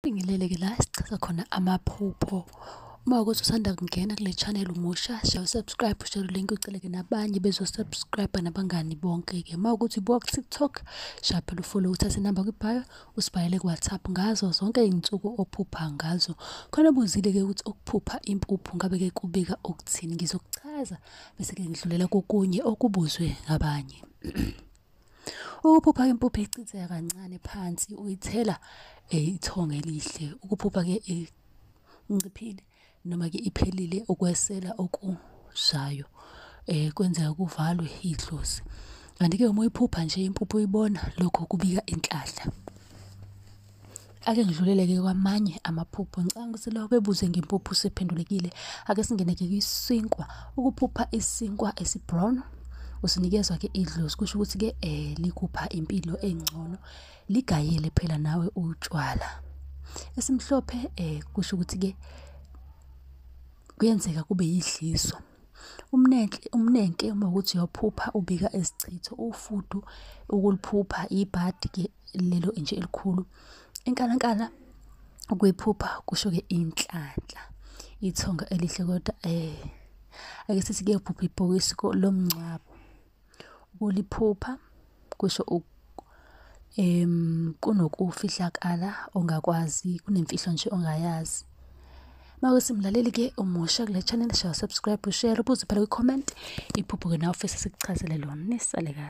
Ngileleke la sichaza khona amaphupho uma ukuthi usanda kungena kule channel umusha share usubscribe share link uceleke nabanye bezosubscribe nabangani bonke-ke uma ukuthi ubuka ku-tiktok shaya phela ufollow uthathe inamba kwibhayo usibhalele ku-whatsapp ngazo zonke iy'nsuku ophupha ngazo khona buzile-ke ukuthi ukuphupha impuphu ngabe-ke kubika okuthini ngizokuchaza bese-ke ngidlulela kokunye okubuzwe ngabanye Ukuphupha impuphu icitheka kancane phansi uyithela eh, ithonga elihle. Ukuphupha ke inciphile noma ke iphelile ukwesela okushayo eh kwenzeka kuvalwe idlozi. Kanti ke uma uyiphupha nje impuphu uyibona lokho kubika inhlahla. Ake ngidlulele-ke kwamanye amaphupho. Ngicabanga ukuthi lawa bebuze ngempuphu sephendulekile. Ake singene-ke kwisinkwa. Ukuphupha isinkwa esi-brown usinikezwa-ke idlozi kusho ukuthi-ke um likupha impilo engcono ligayele phela nawe utshwala esimhlophe um kusho ukuthi-ke kuyenzeka kube yidliso Umnenhle umnenke uma ukuthi uyophupha ubika isichitho ufudu ukuliphupha ibhadi ke lelo nje elikhulu. Inkalankala ukuyiphupha kusho ke inhlanhla. Ithonga elihle kodwa eh ake sithi kuyophupha ibhokisi lomngcwabo. Ukuliphupha kusho um kunokufihlakala ongakwazi kunemfihlo nje ongayazi. Mawesi mlaleli-ke omusha kule channel shaya subscribe ushare ubuze phela kwi-comment iphupho-ke nawe ufisa sikuchazele lona nisale kahle.